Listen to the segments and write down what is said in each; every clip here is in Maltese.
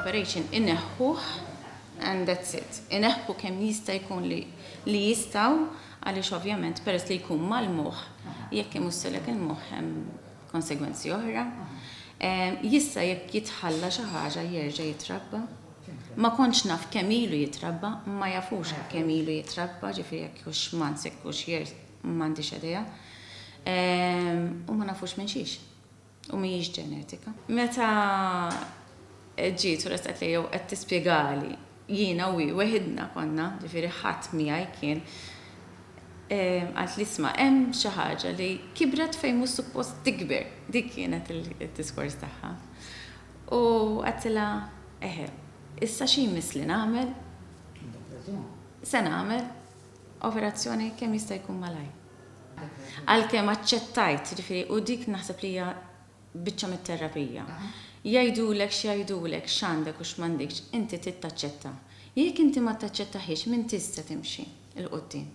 l-operation ineħħuh and that's it. Ineħħu kemm jista' jkun li li jistgħu għaliex ovvjament peress li jkun mal-moħħ jekk imussilek il-moħħ hemm konsegwenzi oħra. Jista' jekk jitħalla xi ħaġa jerġa' jitrabba. Ma kontx naf kemm ilu jitrabba, ma jafux kemm ilu jitrabba, ġifieri jekk hux months jekk hux years m'għandix idea. U ma nafux minn xiex. u mhijiex ġenetika. Meta ġiet u ressqet lejja u qed tispjegali, jiena u hi weħidna konna, ġifieri ħadd miegħi kien, qalt li isma' hemm xi ħaġa li kibret fejn mhux suppost tikber. Dik kienet id-diskors tagħha. U għedtilha, eħe, issa xi jmiss li nagħmel? Se nagħmel operazzjoni kemm jista' jkun malajr. Għalkemm aċċettajt, jiġifieri, u dik naħseb li hija biċċa mit-terapija. Jgħidulek x'jgħidulek, x'għandek u x'm'għandikx, inti trid taċċetta. Jekk inti ma taċċettahiex m'intix se timxi 'l quddiem.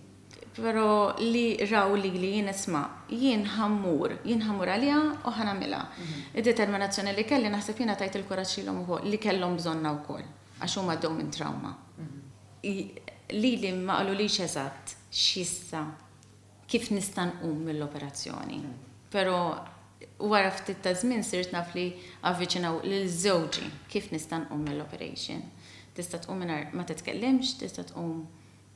Però li raw lili jien isma', jien ħa mmur, jien ħa mmur għaliha u ħa nagħmilha. Id-determinazzjoni li kelli naħseb jiena tajt il-kuraġġ lilhom ukoll, li kellhom bżonnha wkoll. Għax huma għaddew minn trawma. Lili ma qalulix eżatt x'jista' kif nista' nqum mill-operazzjoni. Però wara ftit ta' żmien sirt naf li avviċinaw lil żewġi kif nista' nqum mill-operation. Tista' tqum mingħajr ma titkellimx, tista' tqum.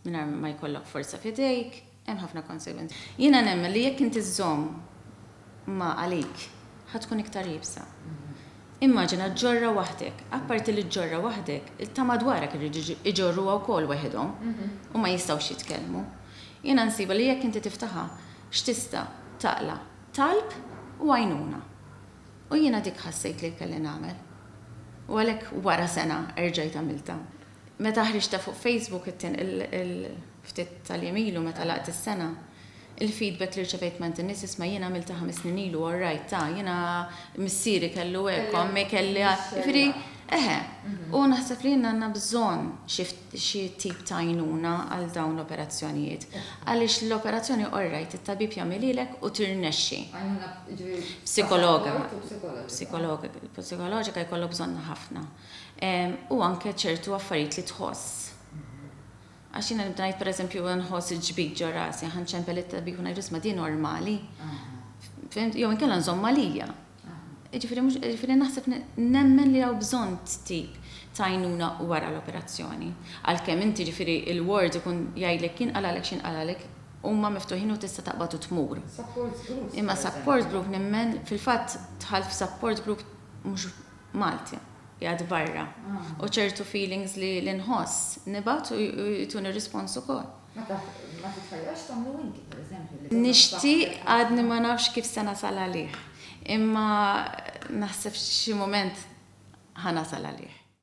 Mingħajr ma jkollok forza f'idejk, hemm ħafna konsegwenzi. Jiena nemmen li jekk inti żżomm ma' għalik, ħa tkun iktar iebsa. Immaġina ġġorrha waħdek. Apparti li ġġorrha waħdek, ta' madwarek iridu jġorruha wkoll weħidhom u ma jistgħux jitkellmu. Jiena nsibha li jekk inti tiftaħha, x'tista' taqla' talb u għajnuna. U jiena dik ħassejt li kelli nagħmel. U għalhekk wara sena erġajt għamiltha. Meta ħriġtha fuq Facebook il-ftit tal-jiem ilu meta laqgħet is-sena, il-feedback li rċevejt m'għand in-nies isma' jiena għamiltha ħames snin ilu u rajtha, jiena missieri kellu hekk, ommi kellha, jiġifieri eħe. U naħseb li inna għandna bżonn xi tip ta' għajnuna għal dawn l-operazzjonijiet. Għaliex l-operazzjoni orrajt it-tabib jagħmel lilek u tirnexxi. Għajnuna jiġifieri. Psikologa. Psikologa. Psikologa jkollok bżonnha ħafna. u anke ċertu affarijiet li tħoss. Għax jiena nibda ngħid pereżempju nħoss il-ġbid ġo rasi, aħna nċempel it-tabib u ngħidlu isma' din normali. Fimt? Jew inkella nżomm għalija. Jiġifieri mhux jiġifieri naħseb nemmen li hawn bżonn tip ta' għajnuna wara l-operazzjoni. Għalkemm inti jiġifieri l-ward ikun jgħidlek jinqalagħlek xi jinqalagħlek, huma miftuħin u tista' taqbad u tmur. Imma support group nemmen, fil-fatt dħalt f'support group mhux Malti, qiegħed barra. U ċertu feelings li li nħoss, nibgħat u jtuni rispons ukoll. Ma taf, ma titħajjarx tagħmlu inti, per eżempju, li. Nixtieq għadni ma nafx kif se nasal għalih. Imma naħseb xi mument ħa nasal għalih.